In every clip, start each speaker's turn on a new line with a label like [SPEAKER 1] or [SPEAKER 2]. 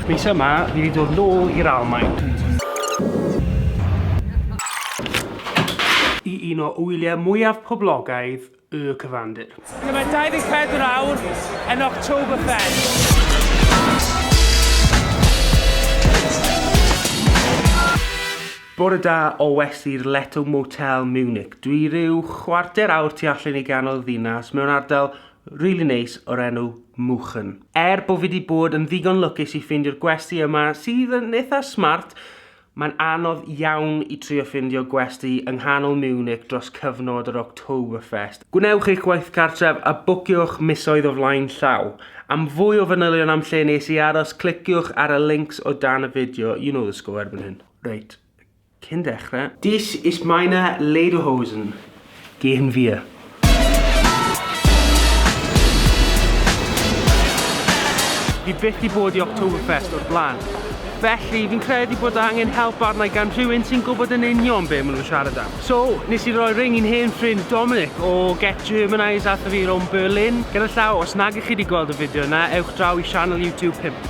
[SPEAKER 1] Mis yma, fi wedi dod nôl i'r Almain. I un o wyliau mwyaf poblogaidd y cyfandir. Dyna mae 24 awr yn Oktoberfest. Bore da o west i'r Leto Motel Munich. Dwi ryw chwarter awr tu allan i ganol ddinas mewn ardal rili neis o'r enw Muchen. Er bo fi 'di bod yn ddigon lwcus i ffeindio'r gwesty yma sydd yn eitha smart, mae'n anodd iawn i trio ffindio gwesty yng nghanol Munich dros cyfnod yr Oktoberfest. Gwnewch eich gwaith cartref a bwciwch misoedd o flaen llaw. Am fwy o fanylion am lle nes i aros cliciwch ar y links o dan y fideo, you know the score erbyn hyn. Reit, cyn dechrau. Dies ist meine Lederhosen. Gehen wir. Fi byth di bod i Oktoberfest o'r blaen. Felly, fi'n credu bod angen help arnau gan rhywun sy'n gwybod yn union be maen nhw'n siarad am. So, nes i roi ring i'n hen ffrind Dominic o Get Germanised atho fi rownd Berlin. Gyda llaw, os nag ych chi wedi gweld y fideo yna, ewch draw i sianel YouTube pimp.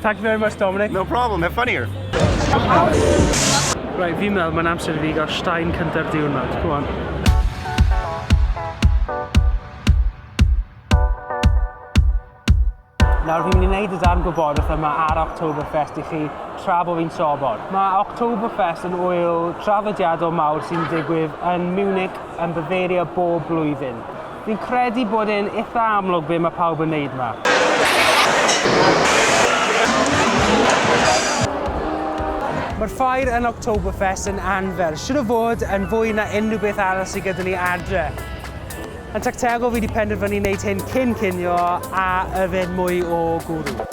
[SPEAKER 2] Thank you very much, Dominic.
[SPEAKER 1] No problem, have fun
[SPEAKER 2] here.
[SPEAKER 1] Right, fi'n meddwl mae'n amser i fi gael stein cynta'r diwrnod. Go on. Nawr fi'n mynd i wneud y darn gwybodwch yma ar Oktoberfest i chi tra bod fi'n sobor. Mae Oktoberfest yn wyl traddodiadol mawr sy'n digwydd yn Munich yn Bavaria bob blwyddyn. Fi'n credu bod e'n itha amlwg be mae pawb yn neud ma. Mae'r ffair yn Oktoberfest yn anferth, siwr o fod yn fwy na unrhyw beth arall sydd gyda ni adre. Yn tactegol fi wedi penderfynu wneud hyn cyn cinio a yfed mwy o gwrw.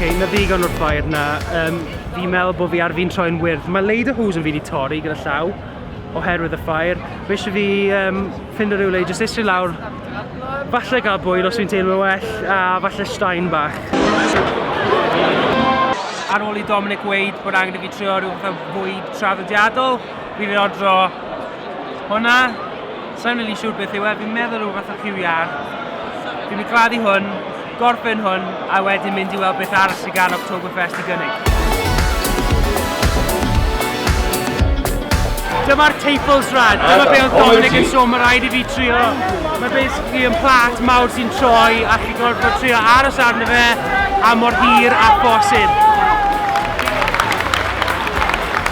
[SPEAKER 1] okay, na ddigon o'r ffair na. Um, fi'n meddwl bod fi ar fi'n troi'n wyrdd. Mae Leida Hws yn fi wedi torri gyda llaw oherwydd y ffair. Mae eisiau fi um, Ffindo rywle i jyst eistedd lawr, falle gael bwyd os fi'n teimlo well, a falle straen bach. Ar ôl i Dominic weud bod angen i fi trio rhyw fath o fwyd traddodiadol, fi wedi ordro hwnna. Sa'n rili siŵr beth yw e, fi'n meddwl rhyw fath o ciwiar. Fi'n mynd i gladdu hwn. Gorffen hwn a wedyn mynd i weld beth arall sydd gan Oktoberfest i gynnig. Dyma'r Teipls rad, dyma be oedd Dominic yn sôn, mae rhaid i fi trio. Mae basically yn plat mawr sy'n troi a chi gorfod trio aros arno fe a mor hir a bosib.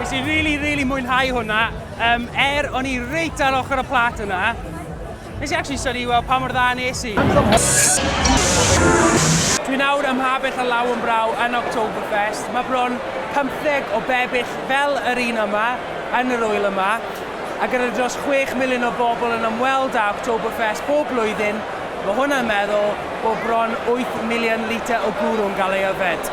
[SPEAKER 1] Nes i really, really mwynhau hwnna. Um, er, o'n i reit ar ochr y plat yna. Nes i actually syni weld pa mor dda nes i. Dwi nawr ym Mhabell a Law yn Braw yn Oktoberfest. Mae bron 15 o bebyll fel yr un yma yn yr wyl yma. A gyda dros 6 miliwn o bobl yn ymweld â Oktoberfest bob blwyddyn, mae hwnna'n meddwl bod bron 8 miliwn litr o gwrw'n gael ei yfed.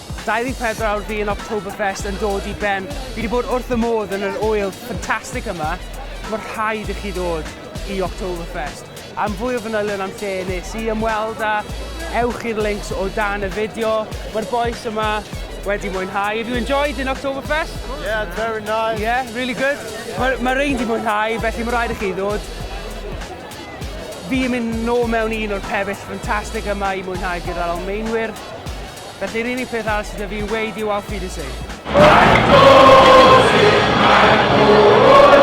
[SPEAKER 1] 24 awr fi yn Oktoberfest yn dod i ben. Fi wedi bod wrth y modd yn yr ŵyl ffantastig yma. Mae rhaid i chi ddod i Oktoberfest. Am fwy o fanylion am lle nes i ymweld â, ewch i'r links o dan y fideo. Mae'r bois yma wedi mwynhau. Have you enjoyed in Oktoberfest? Yeah, it's very
[SPEAKER 3] nice. Yeah, really good.
[SPEAKER 1] Mae ma rhain wedi mwynhau, felly mae rhaid i chi ddod. Fi yn mynd nôl mewn un o'r pebeill ffantastig yma i mwynhau gyda'r Almaenwyr. Felly yr unig peth arall sydd 'da fi i'w weud yw Auf Wiedersehen. Faint o sut mae'r bwrdd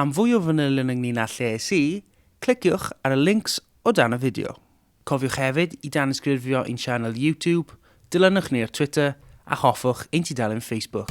[SPEAKER 1] Am fwy o fanylion ynglŷn â lle es i, cliciwch ar y lincs o dan y fideo. Cofiwch hefyd i danysgrifio i'n sianel YouTube, dilynwch ni ar Twitter a hoffwch ein tudalen Facebook.